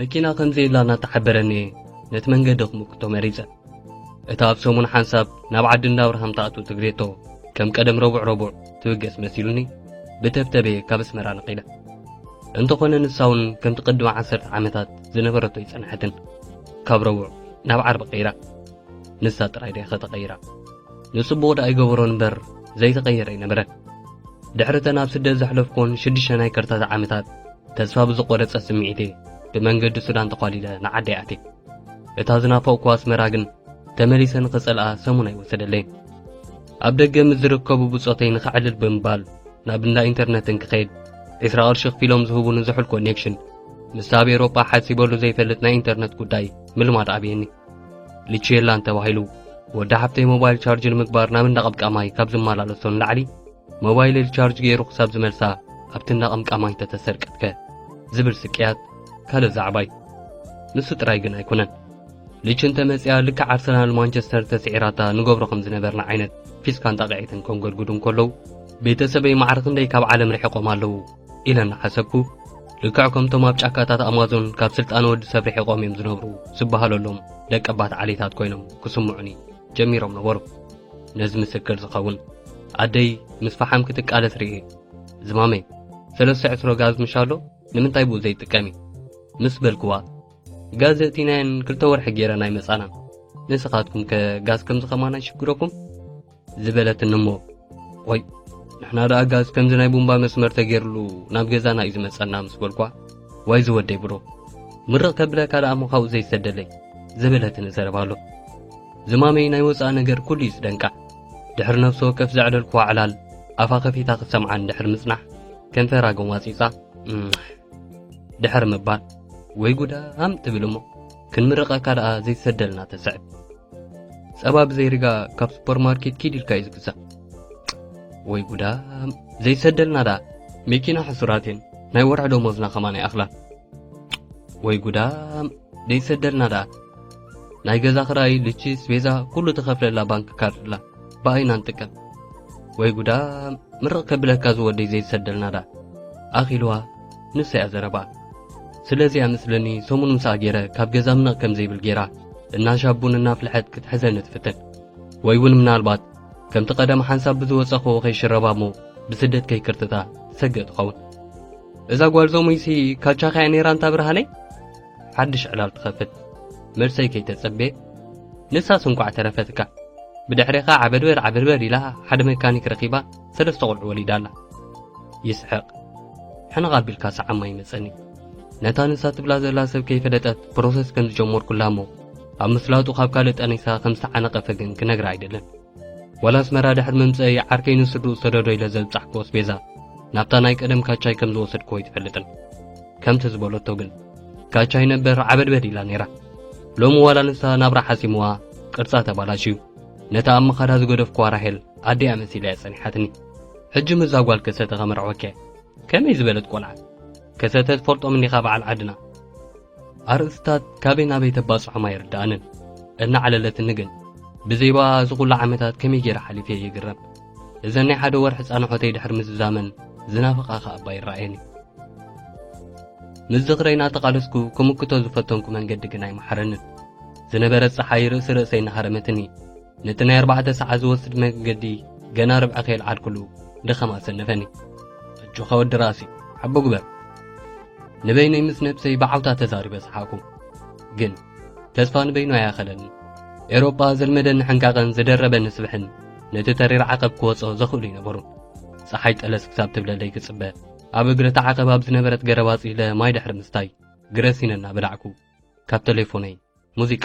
መኪና ከም ዘየላ እናተሓበረኒ እየ ነቲ መንገዲ ክምክቶ መሪጸ። እታ ኣብ ሰሙን ሓንሳብ ናብ ዓዲ እንዳ ኣብርሃም ትኣቱ ትግሬቶ ከም ቀደም ረቡዕ ረቡዕ ትብገስ መሲሉኒ ብተብተበ ካብ ኣስመራ ነቒለ። እንተኾነ ንሳ እውን ከምቲ ቅድሚ ዓሰርተ ዓመታት ዝነበረቶ ይጸንሐትን ካብ ረቡዕ ናብ ዓርቢ ቀይራ ንሳ ጥራይ ደይ ከተቐይራ ንጽቡቕ ደኣ ይገበሮን እምበር ዘይተቐየረ ኣይነበረን። ድሕሪ እተን ኣብ ስደት ዘሕለፍኩን ሽዱሽተ ናይ ከርታታ ዓመታት ተስፋ ብዝቖረጸ ስምዒት'የ ብመንገዲ ሱዳን ተዃሊለ ንዓደይ ኣትየ። እታ ዝናፈቕኩዋ ኣስመራ ግን ተመሊሰ ንኽጸልኣ ሰሙን ኣይወሰደለይን። ኣብ ደገ ምስ ዝርከቡ ብጾተይ ንኸዕልል ብምባል ናብ እንዳ ኢንተርነት እንክኸይድ ዕስራ ቅርሺ ክፊሎም ዝህቡኒ ዝሑል ኮኔክሽን ምስ ኣብ ኤውሮጳ ሓሲበሉ ዘይፈልጥ ናይ ኢንተርነት ጉዳይ ምልማድ ኣብየኒ። ልችየላን ተባሂሉ ወዲ ሓፍተይ ሞባይል ቻርጅ ንምግባር ናብ እንዳ ቀብቃማይ ካብ ዝመላለሶ ንላዕሊ ሞባይለይ ቻርጅ ገይሩ ክሳብ ዝመልሳ ኣብቲ እናቐምቃማይ ተተሰርቀትከ ዝብል ስቅያት ካልእ ዛዕባ እዩ። ንሱ ጥራይ ግን ኣይኮነን። ልች እንተ መጽያ ልክዕ ኣርሰናል ማንቸስተር ተስዒራታ ንገብሮ ከም ዝነበርና ዓይነት ፊስካን ጣቕዒትን ከንጎድጉዱ እንከለዉ ቤተሰበይ ማዕረ ክንደይ ካብ ዓለም ርሒቖም ኣለዉ ኢለ እናሓሰብኩ ልክዕ ከምቶም ኣብ ጫካታት ኣማዞን ካብ ስልጣነ ወዲ ሰብ ርሒቖም እዮም ዝነብሩ ዝበሃለሎም ደቀባት ዓሌታት ኮይኖም ክስምዑኒ ጀሚሮም ነበሩ። ነዚ ምስክር ዝኸውን ኣደይ ምስ ፈሓም ክትቃለስ ርእየ። ዝማመይ ሰለስተ ዕስሮ ጋዝ ምሻሎ ንምንታይ ብኡ ዘይጥቀሚ ምስ በልክዋ ጋዝ እቲናየን ክልተ ወርሒ ጌረን ኣይመጻና ንስኻትኩም ከ ጋዝ ከምዚ ከማን ኣይሽግረኩም ዝበለትኒ እሞ ቆይ ንሕና ደኣ ጋዝ ከምዚ ናይ ቡምባ መስመር ተገይርሉ ናብ ገዛና እዩ ዝመጸና ምስ በልኳ ዋይ ዝወደይ ብሮ ምርቕ ከብለካ ደኣ ምዃኡ ዘይሰደለይ ዘበለትኒ ዘረባ ኣሎ ዝማመይ ናይ ወፃእ ነገር ኩሉ እዩ ዝደንቃ ድሕሪ ነፍሲ ወከፍ ዘዕለልኩዋ ዕላል ኣፋ ከፊታ ክሰምዓን ድሕሪ ምጽናሕ ከንፈራ ጎማጺጻ ድሕሪ ምባል ወይ ጉዳ ኣም ትብል እሞ ክንምርቐካ ደኣ ዘይትሰደልና ተስዕብ ጸባ ብዘይ ሪጋ ካብ ሱፐርማርኬት ኪድ ኢልካ እዩ ዝግዛእ ወይ ጉዳ ዘይትሰደልና ደኣ መኪና ሕሱራት እየን ናይ ወርሒ ደሞዝና ከማን ይኣኽላን ወይ ጉዳ ዘይትሰደልና ደኣ ናይ ገዛ ክራይ ልችስ ቤዛ ኩሉ ተኸፍለላ ባንክ ካርድላ ብኣይና ንጥቀም ወይ ጉዳ ምርቕ ከብለካ ዝወደይ ዘይትሰደልና ደኣ ኣኺልዋ ንሳ እያ ዘረባ ስለዚ እያ መስለኒ ሰሙን ምሳኣ ገይረ ካብ ገዛ ምንቕ ከም ዘይብል ገይራ እናሻብ ቡን እናፍልሐት ክትሕዘኒ ትፍትን ወይ እውን ምናልባት ከምቲ ቀደም ሓንሳብ ብዝወጸኽዎ ከይሽረባ እሞ ብስደት ከይክርትታ ሰግእ ትኸውን እዛ ጓል ዞሙይሲ ካልቻኻ እያ ነይራ እንታ ብርሃነይ ሓድሽ ዕላል ትኸፍት መልሰይ ከይተጸቤ ንሳስ እንቋዕ ተረፈትካ ብድሕሬኻ ዓበድበር ዓበድበር ኢላ ሓደ መካኒክ ረኺባ ሰለስተ ቁልዑ ወሊዳ ኣላ ይስሕቅ ሕንቕ ኣቢልካ ሰዓማ ይመጸኒ ነታ ንሳ ትብላ ዘላ ሰብ ከይፈለጠት ፕሮሰስ ከም ዝጀመርኩላ እሞ ኣብ ምስላጡ ካብ ካልእ ጠኒሳ ከም ዝተዓነቐፈ ግን ክነግራ ኣይደልን ወላ ኣስመራ ድሕሪ ምምጸኢ ዓርከይ ንስድኡ ሰደዶ ኢለ ዘብጻሕክዎ ኣስቤዛ ናብታ ናይ ቀደም ካቻይ ከም ዝወሰድክዎ ኣይትፈልጥን ከምቲ ዝበለቶ ግን ካቻይ ነበር ዓበድበድ ኢላ ነይራ ሎሚ ዋላ ንሳ ናብራ ሓሲምዋ ቅርጻ ተባላሽዩ ነታ ኣብ መኻዳ ዝገደፍክዋ ራሄል ኣደያ መሲለያ ጸኒሓትኒ ሕጂ ምዛ ጓል ከሰተ ከመርዕወኪያ ከመይ ዝበለት ቆልዓ ከሰተ ትፈልጦም እንዲኻ በዓል ዓድና ኣርእስታት ካበይ ናበይ ተባጽሖም ኣይርድኣንን እናዓለለትኒ ግን ብዘይባ እዚ ኹሉ ዓመታት ከመይ ገይረ ሓሊፈ ይግረም እዘን ናይ ሓደ ወርሒ ጻንሖተይ ድሕሪ ምዝዛመን ዝናፍቓ ኸኣ እባ ይረኣየኒ ምስ ዝኽረይ እናተቓለስኩ ክምክቶ ዝፈተንኩ መንገዲ ግን ኣይመሓረንን ዝነበረት ፀሓይ ርእሲ ርእሰይ እናሃረመትኒ ነቲ ናይ ኣርባዕተ ሰዓት ዝወስድ መገዲ ገና ርብዒ ከየልዓልኩሉ ድኻም ኣሰነፈኒ ኣጆኻ ወዲ ራእሲ ሓቦ ግበር ንበይነይ ምስ ነብሰይ ብዓውታ ተዛሪበ ሰሓቕኩ ግን ተስፋ ንበይኑ ኣያኸለኒ ኤሮጳ ዘልመደኒ ሕንቃቐን ዝደረበኒ ስብሕን ነቲ ተሪር ዓቐብ ክወጾ ዘኽእሉ ይነበሩ ፀሓይ ጠለስ ክሳብ ትብለለይ ክጽበ ኣብ እግሪ እቲ ዓቐብ ኣብ ዝነበረት ገረባፅ ኢለ ማይ ድሕሪ ምስታይ ግረሲነ እናበላዕኩ ካብ ቴሌፎነይ ሙዚቃ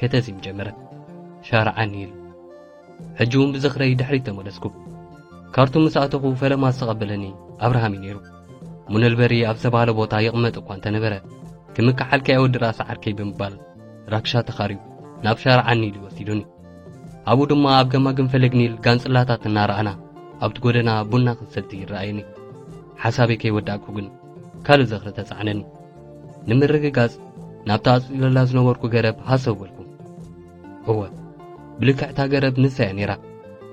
ከተዚም ጀመረት። ሻርዓኒ ኢሉ። ሕጂ እውን ብዝኽረይ ድሕሪት ተመለስኩ። ካርቱም ምስ ኣተኹ ፈለማ ዝተቐበለኒ ኣብርሃም እዩ ነይሩ። ሙነልበሪ ኣብ ዝተባህለ ቦታ ይቕመጥ እኳ እንተነበረ ክምክሓልኪ ኣይወዲ ራእሲ ዓርከይ ብምባል ራክሻ ተኻርዩ ናብ ሻርዓኒ ኢሉ ወሲዱኒ። ኣብኡ ድማ ኣብ ገማግም ፈለግ ኒል ጋንጽላታት እናረኣና ኣብቲ ጎደና ቡና ክንሰቲ ይረኣየኒ። ሓሳበይ ከይወዳእኩ ግን ካልእ ዝኽሪ ተጻዕነኒ። ንምርግጋጽ ናብታ ኣጽሊለላ ዝነበርኩ ገረብ ሃሰው በልኩ እወ ብልክዕታ ገረብ ንሳ እያ ነይራ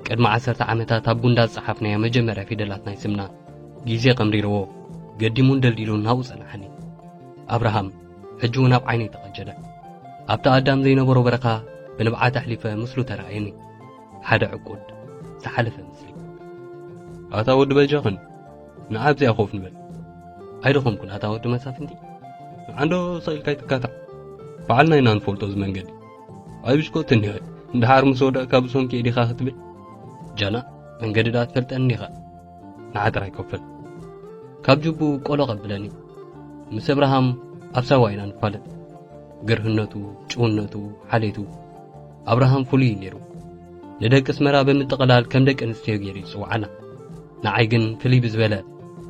ቅድሚ ዓሰርተ ዓመታት ኣብ ጉንዳ ዝጸሓፍናዮ መጀመርያ ፊደላት ናይ ስምና ግዜ ቀምሪርዎ ገዲሙን ደልዲሉን ናብኡ ጸናሓኒ ኣብርሃም ሕጂ እውን ኣብ ዓይነይ ተቐጀለ ኣብቲ ኣዳም ዘይነበሮ በረኻ ብንብዓት ኣሕሊፈ ምስሉ ተረኣየኒ ሓደ ዕቁድ ዝሓለፈ ምስሊ ኣታ ወዲ በጃኽን ንኣብዚኣ ኮፍ ንበል ኣይደኸምኩን ኣታ ወዲ መሳፍንቲ ንዓንዶ ሰቂልካ ኣይትካታዕ ባዕልና ኢና ንፈልጦ እዚ መንገዲ ኣይ ብሽኮት እኒሀ እንድሓር ምስ ወደቕካ ብሰንኪ ዲኻ ክትብል ጃና መንገዲ ዳ ትፈልጠኒ ዲኻ ንዓጥራ ይከፈል ካብ ጅቡ ቆሎ ቀብለኒ ምስ እብርሃም ኣብ ሳዋ ኢና ንፋለጥ ገርህነቱ ጭውነቱ ሓሌቱ ኣብርሃም ፍሉይ እዩ ነይሩ። ንደቂ ኣስመራ ብምጥቕላል ከም ደቂ ኣንስትዮ ገይሩ ይጽውዓና። ንዓይ ግን ፍልይ ብዝበለ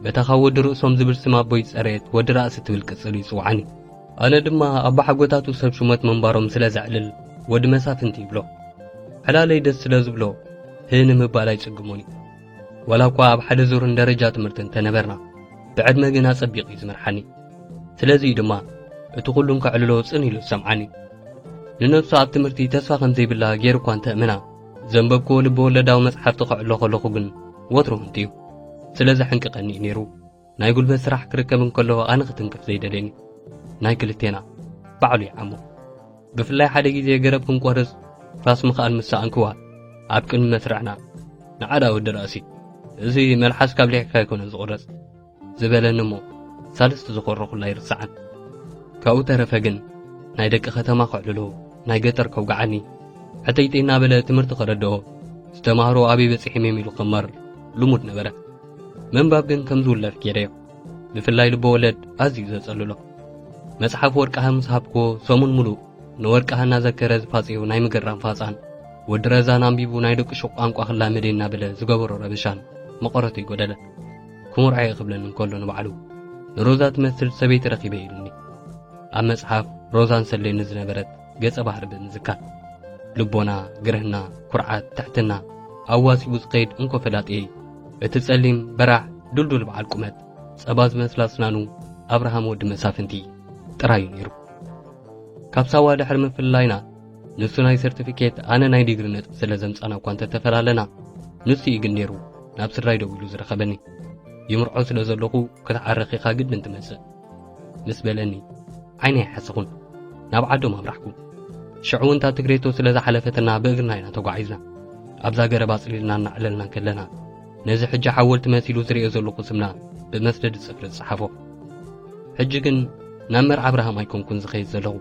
በታ ካብ ወዲ ርእሶም ዝብል ስም ኣቦይ ዝጸረየት ወዲ ራእሲ ትብል ቅጽል እዩ ይጽውዓኒ። ኣነ ድማ ኣቦሓጎታቱ ሰብ ሹመት ምንባሮም ስለ ዘዕልል ወዲ መሳፍንቲ ይብሎ። ዕላለይ ደስ ስለ ዝብሎ ህ ንምባል ኣይጽግሞን እዩ። ወላ እኳ ኣብ ሓደ ዙርን ደረጃ ትምህርቲ እንተነበርና ብዕድመ ግን ኣጸቢቑ እዩ ዝመርሓኒ ስለዚ እዩ ድማ እቲ ኩሉን ከዕልሎ ጽን ኢሉ ዝሰምዓኒ ንነብሱ ኣብ ትምህርቲ ተስፋ ከም ዘይብላ ገይሩ እኳ እንተእምና ዘንበብክዎ ልቢ ወለዳዊ መጽሓፍቲ ከዕሎ ከለኹ ግን ወትሩ ህንጥዩ ስለ ዘሕንቅቐኒ እዩ ነይሩ ናይ ጉልበት ስራሕ ክርከብ እንከሎ ኣነ ክትንክፍ ዘይደልየኒ ናይ ክልቴና ባዕሉ ይዓሞ ብፍላይ ሓደ ግዜ ገረብ ክንቆርጽ ራስ ምኽኣል ምስ ሰኣንክዋ ኣብ ቅድሚ መስርዕና ንዓዳ ወዲ ራእሲ እዚ መልሓስ ካብ ሊሕካ ኣይኮነን ዝቑረጽ ዝበለኒ እሞ ሳልስቲ ዝኾረኹላ ይርስዓን ካብኡ ተረፈ ግን ናይ ደቂ ከተማ ከዕልሎ ናይ ገጠር ከውግዓኒ ሕተይተይ እናበለ ትምህርቲ ከረድኦ ዝተማህሮ ኣበይ በጺሒም እዮም ኢሉ ክመር ልሙድ ነበረ ምንባብ ግን ከም ዝውለፍ ገይረዮ ብፍላይ ልበወለድ ኣዝዩ ዘጸልሎ መጽሓፍ ወርቅሃ ምስ ሃብክዎ ሰሙን ምሉእ ንወርቅሃ እናዘከረ ዝፋጽዮ ናይ ምግራም ፋጻን ወዲ ረዛን ኣንቢቡ ናይ ደቂ ሹቕ ቋንቋ ክላመደ እናበለ ዝገበሮ ረበሻን መቐረቱ ይጎደለ ክሙርዓየ ክብለኒ እንከሎ ንባዕሉ ንሮዛ ትመስል ሰበይቲ ረኺበ ኢሉኒ ኣብ መጽሓፍ ሮዛን ሰሌኒ ዝነበረት ገጸ ባህሪ ብምዝካር ልቦና፣ ግርህና፣ ኩርዓት፣ ትሕትና ኣዋሲቡ ዝኸይድ እንኮ ፈላጥየይ እቲ ጸሊም በራሕ ድልዱል በዓል ቁመት ጸባ ዝመስላ ኣስናኑ ኣብርሃም ወዲ መሳፍንቲ ጥራይ እዩ ነይሩ። ካብ ሳዋ ድሕሪ ምፍልላይና ንሱ ናይ ሰርቲፊኬት ኣነ ናይ ዲግሪ ነጥቢ ስለ ዘምጻና እኳ እንተተፈላለና ንሱ እዩ ግን ነይሩ ናብ ስድራይ ደው ኢሉ ዝረኸበኒ ይምርዖ ስለ ዘለኹ ክትዓርኽ ኢኻ ግድን ትመጽእ ምስ በለኒ ዓይነ ኣይሓሰኹን ናብ ዓዶም ኣምራሕኩ ሽዑ እውን እታ ትግሬቶ ስለ ዝሓለፈትና ብእግርና ኢና ተጓዒዝና ኣብዛ ገረብ ኣጽሊልና እናዕለልና ከለና ነዚ ሕጂ ሓወልቲ መሲሉ ዝርእዮ ዘለኹ ስምና ብመስደድ ጽፍሪ ዝጸሓፎ ሕጂ ግን ናብ መርዓ ኣብርሃም ኣይኮንኩን ዝኸይድ ዘለኹ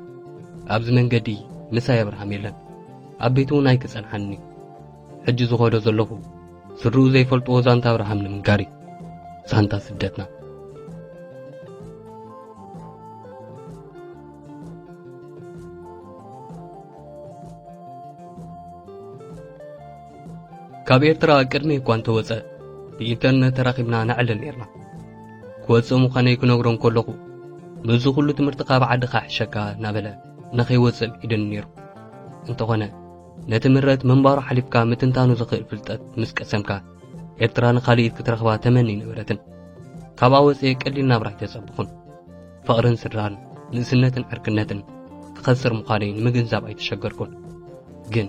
ኣብዚ መንገዲ ምሳይ ኣብርሃም የለን ኣብ ቤት እውን ኣይክጸንሓንኒ ሕጂ ዝኸዶ ዘለኹ ስድርኡ ዘይፈልጥዎ ዛንታ ኣብርሃም ንምንጋር እዩ ዛንታ ስደትና ካብ ኤርትራ ቅድሚ እኳ እንተወፀ ብኢንተርነት ተራኺብና ነዕልል ነርና ክወፅእ ምዃነይ ክነግሮ እንከለኹ ምስዚ ኩሉ ትምህርቲ ካብ ዓድኻ ሕሸካ እናበለ ንኸይወፅእ ኢድኒ ነይሩ እንተኾነ ነቲ ምረት ምንባሩ ሓሊፍካ ምትንታኑ ዝኽእል ፍልጠት ምስ ቀሰምካ ኤርትራ ንኻልኢት ክትረኽባ ተመኒ ነበረትን ካብኣ ወፅኤ ቀሊል ናብራ ኣይተፀብኹን ፍቕርን ስድራን ንእስነትን ዕርክነትን ክኸስር ምዃነይ ንምግንዛብ ኣይተሸገርኩን ግን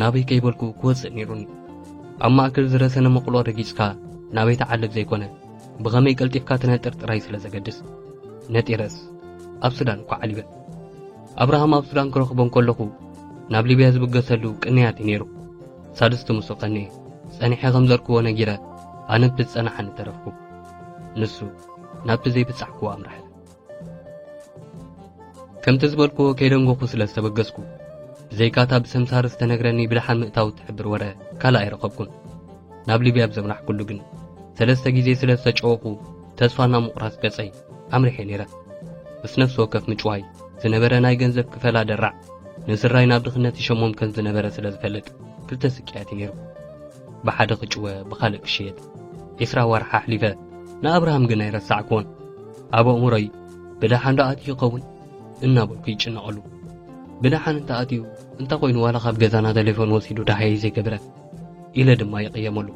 ናበይ ከይበልኩ ክወፅእ ነይሩኒ ኣብ ማእከል ዝረሰነ መቕሎ ረጊፅካ ናበይ ተዓልብ ዘይኮነ ብኸመይ ቀልጢፍካ ትነጥር ጥራይ ስለ ዘገድስ ነጢረስ ኣብ ሱዳን እኳ ዓሊበ ኣብርሃም ኣብ ሱዳን ክረኽቦ እንከለኹ ናብ ሊብያ ዝብገሰሉ ቅንያት እዩ ነይሩ። ሳድስቲ ምስኡ ቀንየ። ጸኒሐ ከም ዘርክቦ ነጊረ ኣነ እቲ ዝጸናሓኒ ተረፍኩ። ንሱ ናብቲ ዘይብጻሕክዎ ኣምርሐ። ከምቲ ዝበልክዎ ከይደንጎኹ ስለ ዝተበገስኩ ብዘይካታ ብሰምሳር ዝተነግረኒ ብደሓን ምእታው እትሕብር ወረ ካልእ ኣይረኸብኩን። ናብ ሊብያ ኣብ ዘምራሕኩሉ ግን ሰለስተ ግዜ ስለ ዝተጨወኹ ተስፋ ናብ ምቑራጽ ገጸይ ኣምሪሐ ነይረ። ምስ ነፍሲ ወከፍ ምጭዋይ ዝነበረ ናይ ገንዘብ ክፈላ ደራዕ ንስድራይ ናብ ድኽነት ይሸሞም ከም ዝነበረ ስለ ዝፈልጥ ክልተ ስቅያት እዩ ነይሩ። ብሓደ ክጭወ ብኻልእ ክሽየጥ ዒስራ ኣዋርሕ ኣሕሊፈ። ንኣብርሃም ግን ኣይረሳዕክዎን። ኣብ ኣእምሮይ ብደሓን ዶ ኣትዩ ይኸውን እናበልኩ ይጭነቐሉ። ብደሓን እንተ ኣትዩ እንታይ ኮይኑ ዋላ ካብ ገዛና ተሌፎን ወሲዱ ዳሃየ ዘይገብረ ኢለ ድማ ይቕየመሉ።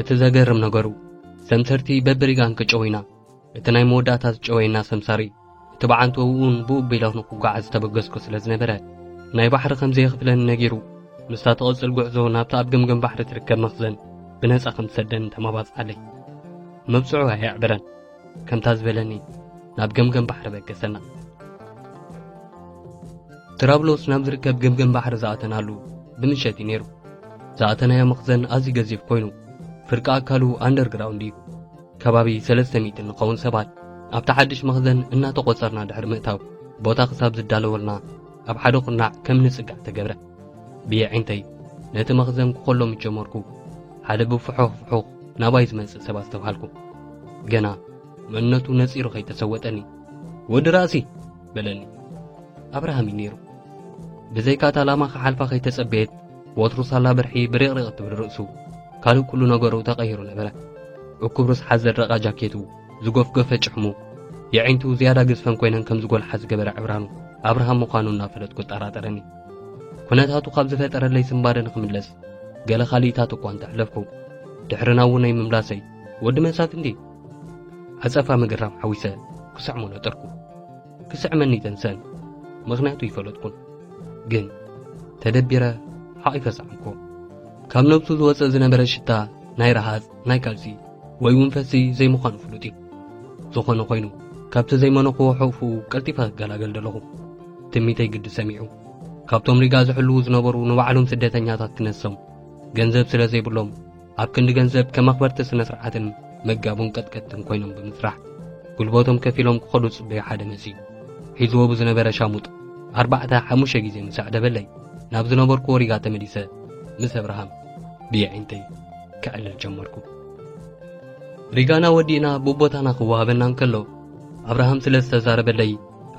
እቲ ዘገርም ነገሩ ሰምሰርቲ በብሪጋን ክጨወይና እቲ ናይ መወዳእታ ዝጨወየና ሰምሳሪ እቲ በዓንቱ እውን ብኡ ቢለ ንክጓዓዝ ዝተበገስኩ ስለ ዝነበረ ናይ ባሕሪ ከም ዘየኽፍለኒ ነጊሩ ምስታ ትቕጽል ጉዕዞ ናብቲ ኣብ ገምገም ባሕሪ ትርከብ መኽዘን ብነጻ ከም ዝሰደኒ ተመባጽዓለይ መብጽዑ ኣየዕበረን ከምታ ዝበለኒ ናብ ገምገም ባሕሪ በገሰና ትራብሎስ ናብ ዝርከብ ገምገም ባሕሪ ዝኣተናሉ ብምሸት እዩ ነይሩ ዝኣተናዮ መኽዘን ኣዝዩ ገዚፍ ኮይኑ ፍርቂ ኣካሉ ኣንደርግራውንድ እዩ ከባቢ ሰለስተ ሚእቲ እንኸውን ሰባት ኣብቲ ሓድሽ መኽዘን እናተቖጸርና ድሕሪ ምእታው ቦታ ክሳብ ዝዳለወልና ኣብ ሓደ ኩርናዕ ከም ንጽጋዕ ተገብረ። ብየዒንተይ ነቲ መኽዘን ክኾሎ ምስ ጀመርኩ ሓደ ብፍሑኽ ፍሑኽ ናባይ ዝመጽእ ሰብ ኣስተብሃልኩ። ገና መንነቱ ነጺሩ ከይተሰወጠኒ ወዲ ራእሲ በለኒ። ኣብርሃም እዩ ነይሩ። ብዘይካታ ላማ ክሓልፋ ከይተጸበየት ወትሩ ሳላ ብርሒ ብሪቕሪቕ እትብል ርእሱ ካልእ ኩሉ ነገሩ ተቐይሩ ነበረ። እኩብ ርስሓት ዘድረቓ ጃኬቱ፣ ዝጎፍገፈ ጭሕሙ፣ የዒንቱ ዝያዳ ግዝፈን ኮይነን ከም ዝጎልሓ ዝገበረ ዕብራኑ ኣብርሃም ምዃኑ እናፈለጥኩ እጠራጠረኒ። ኩነታቱ ካብ ዝፈጠረለይ ስንባደ ንኽምለስ ገለ ካልኢታት እኳ እንተሕለፍኩ ድሕሪ ናብኡ ናይ ምምላሰይ ወዲ መሳፍንቲ ዓጸፋ ምግራም ሓዊሰ ክስዕሞ ነጠርኩ። ክስዕመኒ ተንሰን ምኽንያቱ ይፈለጥኩን ግን ተደቢረ ሓቒፈ ሰዓምኩ ካብ ነብሱ ዝወፀ ዝነበረ ሽታ ናይ ረሃፅ ናይ ካልሲ ወይ እውን ፈሲ ዘይምዃኑ ፍሉጥ እዩ ዝኾነ ኮይኑ ካብቲ ዘይመነኽዎ ሕቑፉ ቀልጢፈ ክገላገል ደለኹ ትሚተይ ግዲ ሰሚዑ ካብቶም ሪጋ ዝሕልዉ ዝነበሩ ንባዕሎም ስደተኛታት ክነሶም ገንዘብ ስለ ዘይብሎም ኣብ ክንዲ ገንዘብ ከም ኣኽበርቲ ስነ ስርዓትን መጋቡን ቀጥቀጥትን ኮይኖም ብምስራሕ ጉልበቶም ከፊሎም ክኸዱ ጽበዩ ሓደ መጽዩ ሒዝዎ ብዝነበረ ሻሙጥ ኣርባዕተ ሓሙሽተ ግዜ ምስ ኣዕደበለይ ናብ ዝነበርኩዎ ሪጋ ተመሊሰ ምስ ኣብርሃም ብየዒንተይ ክዕልል ጀመርኩ ሪጋና ወዲእና ብቦታና ክወሃበና እንከሎ ኣብርሃም ስለ ዝተዛረበለይ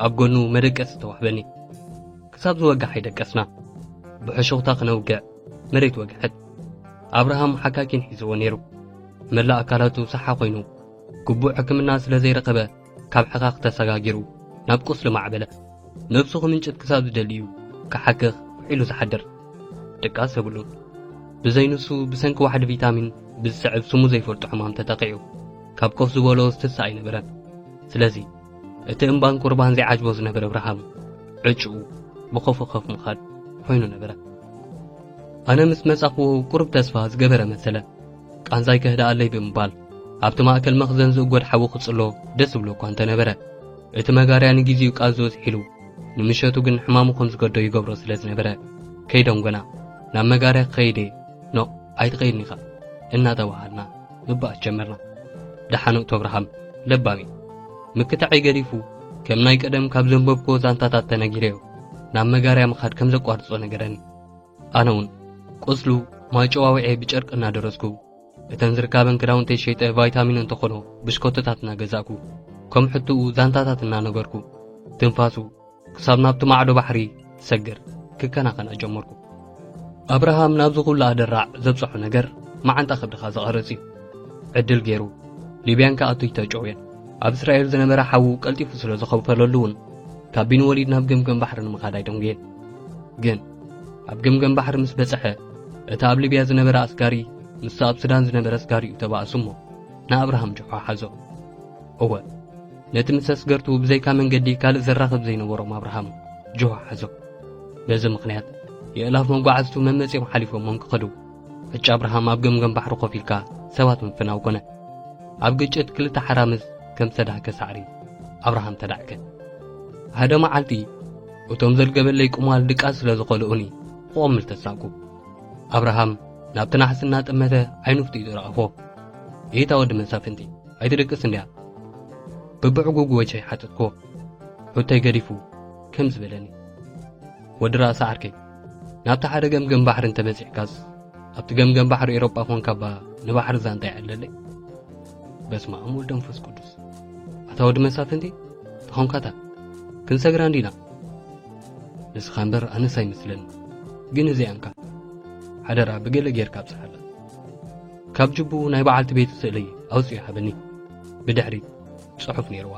ኣብ ጎኑ መደቀሲ ተዋህበኒ ክሳብ ዝወግሕ ኣይደቀስና ብሕሹኽታ ክነውግዕ መሬት ወግሐት። ኣብርሃም ሓካኪን ሒዝዎ ነይሩ። መላእ ኣካላቱ ሳሓ ኮይኑ ግቡእ ሕክምና ስለ ዘይረኸበ ካብ ሕኻኽ ተሰጋጊሩ ናብ ቁስሊ ማዕበለ። ነብሱ ክምንጭት ክሳብ ዝደሊ እዩ ክሓክኽ ውዒሉ ዝሓድር። ድቃስ የብሉን። ብዘይንሱ ብሰንኪ ዋሕዲ ቪታሚን ብዝስዕብ ስሙ ዘይፈልጦ ሕማም ተጠቒዑ ካብ ኮፍ ዝበሎ ዝትስእ ኣይነበረን። ስለዚ እቲ እምባን ቁርባን ዘይዓጅቦ ዝነበረ እብርሃም ዕጭኡ ብኸፉ ከፍ ምኻድ ኮይኑ ነበረ ኣነ ምስ መጻኽዎ ቁርብ ተስፋ ዝገበረ መሰለ ቃንዛይ ከህድኣለይ ብምባል ኣብቲ ማእከል መኽዘን ዝእጎድ ሓዊ ክጽሎ ደስ ዝብሎ እኳ እንተነበረ እቲ መጋርያ ንግዜኡ ቃዞ ዝሒሉ ንምሸቱ ግን ሕማሙ ከም ዝገዶ ይገብሮ ስለ ዝነበረ ከይደንጎና ናብ መጋርያ ክኸይድ እየ ኖ ኣይትኸይድን ኢኻ እናተባሃልና ምባኣስ ጀመርና ደሓን እቶ ኣብርሃም ለባም እዩ ምክታዐይ ገዲፉ ከም ናይ ቀደም ካብ ዘንበብኮ ዛንታታት ተነጊረዮ ናብ መጋርያ ምኻድ ከም ዘቋርጾ ነገረኒ ኣነ እውን ቁስሉ ማጨዋውዔ ብጨርቂ እናደረስኩ እተን ዝርካበን ክዳውንተይ ሸይጠ ቫይታሚን እንተኾኖ ብሽኮቶታት እናገዛእኩ ከም ሕትኡ ዛንታታት እናነገርኩ ትንፋሱ ክሳብ ናብቲ ማዕዶ ባሕሪ ሰግር ክከናኸና ጀመርኩ ኣብርሃም ናብዚ ኩሉ ኣደራዕ ዘብጽሖ ነገር መዓንጣ ከብድኻ ዘቐርጽ እዩ ዕድል ገይሩ ሊብያን ከኣቱ ይተጨውየን ኣብ እስራኤል ዝነበረ ሓዉ ቀልጢፉ ስለ ዝኸውፈለሉ እውን ካብ ቢን ወሊድ ናብ ገምገም ባሕሪ ንምኻድ ኣይደንጉየን ግን ኣብ ገምገም ባሕሪ ምስ በጽሐ እቲ ኣብ ሊብያ ዝነበረ ኣስጋሪ ምስ ኣብ ሱዳን ዝነበረ ኣስጋሪኡ ተባእሱ እሞ ንኣብርሃም ጆሖ ሓዞ እወ ነቲ ምስ ኣስገርቱ ብዘይካ መንገዲ ካልእ ዘራኽብ ዘይነበሮም ኣብርሃም ጆሆ ሓዞ በዚ ምኽንያት የእላፍ መጓዓዝቱ መመጺኦም ሓሊፎሞም ክኸዱ ዕጭ ኣብርሃም ኣብ ገምገም ባሕሪ ኮፍ ኢልካ ሰባት ምፍናው ኮነ ኣብ ግጭት ክልተ ሓራምዝ ከም ሰዳህከ ሳዕሪ ኣብርሃም ተዳዕከ ሓደ መዓልቲ እቶም ዘልገበለይ ቁማል ድቃስ ስለ ዝኸልኡኒ ክቖምል ተሳቁ ኣብርሃም ናብቲ ናሕሲ እናጠመተ ዓይኑ ፍጢጡ ረኣፎ ኢታ ወዲ መሳፍንቲ ኣይትደቅስ እንድያ ብብዕጉጉ ወጀይ ሓተትክዎ ሑተይ ገዲፉ ከምዚ በለኒ ወዲ ራእሲ ዓርከይ ናብቲ ሓደ ገምገም ባሕሪ እንተበጺሕካስ ኣብቲ ገምገም ባሕሪ ኤሮጳ ኾንካ እባ ንባሕሪ ዛንታ ይዕለለይ በስመ ኣብ ወልድ መንፈስ ቅዱስ ኣታ ወዲ መሳፍንቲ ተኾንካታ ክንሰግራ እንዲና ንስኻ እምበር ኣነስ ኣይመስለኒ ግን እዚኣ እንካ ሓደራ ብገለ ጌርካ ኣብጽሓላ ካብ ጅቡ ናይ በዓልቲ ቤቱ ስእሊ ኣውፅዩ ሃበኒ ብድሕሪት ፅሑፍ ነይርዋ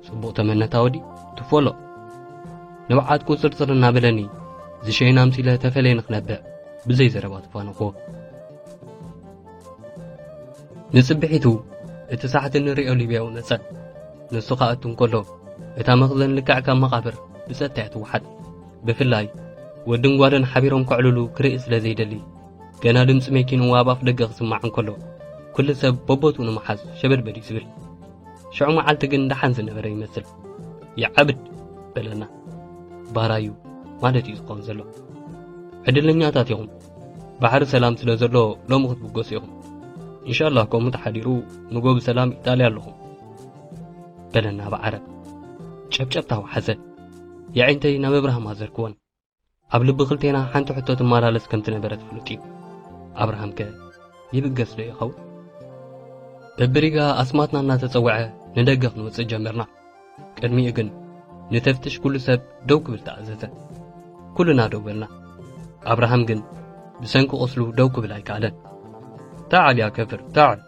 ፅቡቕ ተመነታ ወዲ ትፎሎ ንብዓት ቁፅርፅር እናበለኒ ዝሸይን ኣምፂለ ተፈለየ ንኽነብዕ ብዘይ ዘረባ ተፋነኽዎ ንፅብሒቱ እቲ ሳሕቲ ንሪኦ ሊብያዊ መፀ ንሱ ከኣቱ እንከሎ እታ መኽዘን ልክዕ ካብ መቓብር ብፀጥታ እያ ትወሓጥ ብፍላይ ወድን ጓልን ሓቢሮም ከዕልሉ ክርኢ ስለ ዘይደሊ ገና ድምፂ መኪንኡ ኣብ ኣፍ ደገ ክስማዕ እንከሎ ኩሉ ሰብ በቦትኡ ንምሓዝ ሸበድበድ እዩ ዝብል ሽዑ መዓልቲ ግን ደሓን ዝነበረ ይመስል ይዓብድ በለና ባራዩ ማለት እዩ ዝኸውን ዘሎ ዕድለኛታት ኢኹም ባሕሪ ሰላም ስለ ዘሎ ሎሚ ክትብገሱ ኢኹም ኢንሻላህ ከምኡ ተሓዲሩ ንጎ ብሰላም ኢጣልያ ኣለኹም በለና ብዓረብ ጨብጨብታ ወሓዘ የዒንተይ ናብ እብራህም ኣዘርክወን ኣብ ልቢ ክልቴና ሓንቲ ሕቶ ትመላለስ ከም ትነበረት ፍሉጥ እዩ ኣብርሃም ከ ይብገስ ዶ ይኸውን በብሪጋ ኣስማትና እናተጸውዐ ንደገ ክንወጽእ ጀመርና ቅድሚኡ ግን ንተፍትሽ ኩሉ ሰብ ደው ክብል ተኣዘዘ ኩልና ደው በልና ኣብርሃም ግን ብሰንኪ ቁስሉ ደው ክብል ኣይከኣለን ታዕል ያ ከፍር ታዕል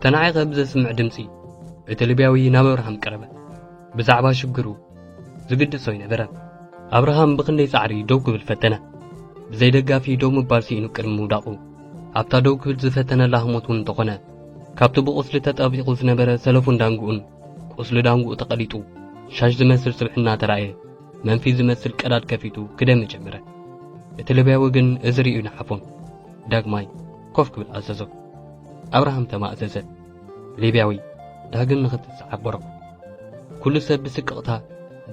ተናዒቐ ብዘስምዕ ድምፂ እቲ ልብያዊ ናብ ኣብርሃም ቀረበ ብዛዕባ ሽግሩ ዝግድሶ ኣይነበረን። ኣብርሃም ብኽንደይ ጻዕሪ ደው ክብል ፈተነ። ብዘይ ደጋፊ ደው ምባል ስኢኑ ቅድሚ ምውዳቑ ኣብታ ደው ክብል ዝፈተነላ ህሞት እውን እንተኾነ ካብቲ ብቑስሊ ተጠቢቑ ዝነበረ ሰለፉን ዳንግኡን ቁስሊ ዳንግኡ ተቐሊጡ ሻሽ ዝመስል ስብሕና ተራእየ መንፊት ዝመስል ቀዳድ ከፊቱ ክደሚ ጀመረ። እቲ ልብያዊ ግን እዚ ርእዩ ንሓፎም ዳግማይ ኮፍ ክብል ኣዘዞ። ኣብርሃም ተማእዘዘ። ሊብያዊ ዳግም ንኽትሰዓብ ቦረቑ። ኩሉ ሰብ ብስቅቕታ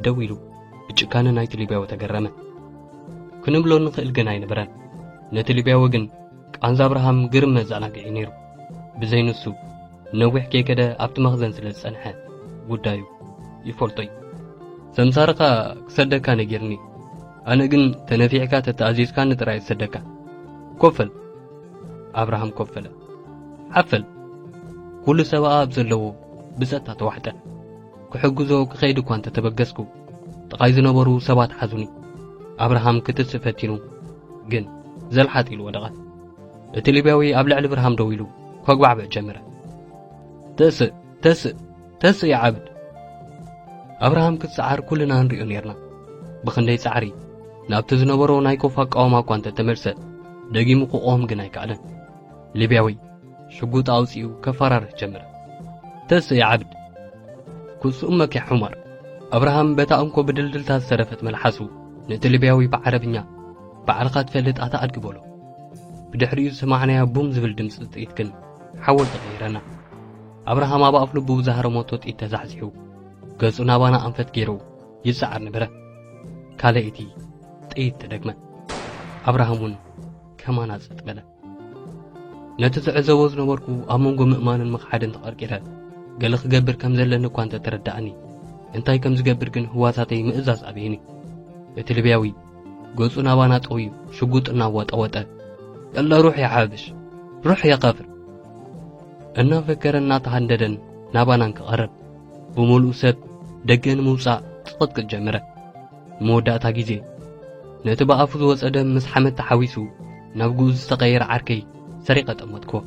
ደው ኢሉ ብጭካነ ናይቲ ሊብያዊ ተገረመ። ክንብሎ ንኽእል ግን ኣይነበረን። ነቲ ሊብያዊ ግን ቃንዛ ኣብርሃም ግርም መዘናግዒ ነይሩ። ብዘይ ንሱ ነዊሕ ከይከደ ኣብቲ መኽዘን ስለ ዝጸንሐ ጉዳዩ ይፈልጦ እዩ። ሰምሳርካ ክሰደካ ነጊርኒ፣ ኣነ ግን ተነፊዕካ ተተኣዚዝካኒ ጥራይ ዝሰደካ። ኮፈል ኣብርሃም ኮፈለ። ዓፈን ኩሉ ሰብኣ ኣብ ዘለዎ ብጸታ ተዋሕጠ። ክሕግዞ ክኸይድ እኳ እንተ ተበገስኩ፣ ጥቓይ ዝነበሩ ሰባት ሓዙኒ። ኣብርሃም ክትስእ ፈቲኑ፣ ግን ዘልሓጥ ኢሉ ወደቐ። እቲ ሊብያዊ ኣብ ልዕሊ ኣብርሃም ደው ኢሉ ከጉባዕብዕ ጀመረ። ተስእ! ተስእ! ተስኢ ዓብድ ኣብርሃም ክጸዓር ኩልና ንሪኦ ኔርና ብኽንደይ ጻዕሪ ናብቲ ዝነበሮ ናይ ኮፍ ኣቃውማ እኳ እንተ ተመልሰ ደጊሙ ክቖም ግን ኣይከኣለን ሊብያዊ ሽጉጥ ኣውጺኡ ከፈራርህ ጀመረ ተስኢ ዓብድ ኩስኡመክ ያ ሑመር ኣብርሃም በታ እንኮ ብድልድልታ ዝተረፈት መልሓሱ ነቲ ሊብያዊ ብዓረብኛ ባዕልኻ ትፈልጥ ኣታ ኣድጊ በሎ ብድሕሪኡ ዝሰማዕናያ ቡም ዝብል ድምፂ ጥይት ግን ሓወል ተቐይረና ኣብርሃም ኣብ ኣፍ ልቡ ብዝሃረመቶ ጥይት ተዛሕዚሑ ገጹ ናባና ኣንፈት ገይሩ ይሰዓር ነበረ። ካልኣይቲ ጥይት ተደግመ። ኣብርሃም እውን ከማና ጸጥ በለ። ነቲ ዝዕዘቦ ዝነበርኩ ኣብ መንጎ ምእማንን ምኽሓድን ተቐርቂረ ገለ ክገብር ከም ዘለኒ እኳ እንተ ተረዳእኒ እንታይ ከም ዝገብር ግን ህዋሳተይ ምእዛዝ ኣበየኒ እቲ ልብያዊ ገጹ ናባና ጠውዩ ሽጉጥ እናዋጠወጠ የለ ሩሕ የሓብሽ ሩሕ የኸፍር እናፈከረን እናተሃንደደን ናባና እንክቐርብ ብምሉእ ሰብ ደገ ንምውጻእ ጽቕጥቅጥ ጀመረ። ንመወዳእታ ግዜ ነቲ ብኣፉ ዝወጸ ደም ምስ ሓመድ ተሓዊሱ ናብ ግኡዝ ዝተቐየረ ዓርከይ ሰሪቐ ጠመትክዎ።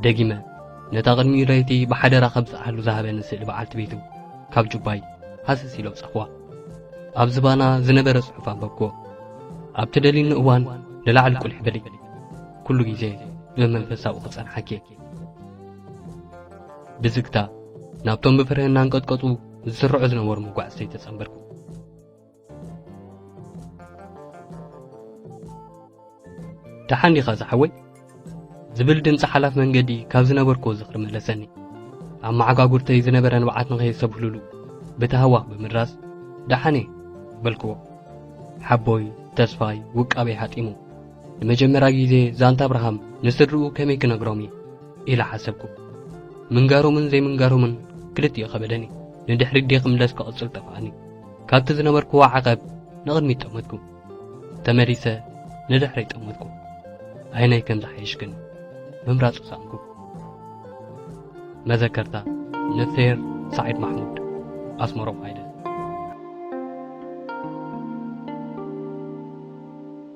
ደጊመ ነታ ቅድሚኡ ለይቲ ብሓደራ ከብጽሓሉ ዝሃበኒ ስእሊ በዓልቲ ቤቱ ካብ ጁባይ ሃሰስ ኢለ ኣውጻኽዋ። ኣብ ዝባና ዝነበረ ጽሑፍ ኣንበብክዎ። ኣብቲ ደሊኒ እዋን ንላዕሊ ቁሊሕ በሊ። ኩሉ ግዜ ብመንፈስ ኣብኡ ክጸንሓኪ እየ ብዝግታ ናብቶም ብፍርህ እናንቀጥቀጡ ዝስርዑ ዝነበሩ መጓዕዝተይ ተጸንበርኩ ደሓን ዲኻ ዝሓወይ ዝብል ድምፂ ሓላፍ መንገዲ ካብ ዝነበርክዎ ዝኽሪ መለሰኒ ኣብ መዓጓጉርተይ ዝነበረ ንብዓት ንኸየሰብህሉሉ ብተሃዋኽ ብምድራስ ደሓን እየ በልክዎ ሓቦይ ተስፋይ ውቃበይ ሃጢሙ ንመጀመርያ ግዜ ዛንታ ኣብርሃም ንስድርኡ ከመይ ክነግሮም እዩ ኢለ ሓሰብኩ። ምንጋሮምን ዘይምንጋሮምን ክልቲኡ ከበደኒ። ንድሕሪት ደይ ክምለስ ክቕጽል ጠፍኣኒ። ካብቲ ዝነበርክዎ ዓቐብ ንቕድሚት ጠመትኩ። ተመሊሰ ንድሕረይ ጠመትኩ። ኣየናይ ከም ዝሓይሽ ግን ምምራጹ ሰኣንኩ። መዘከርታ ንፌር ሳዒድ ማሕሙድ ኣስመሮም ሃይለ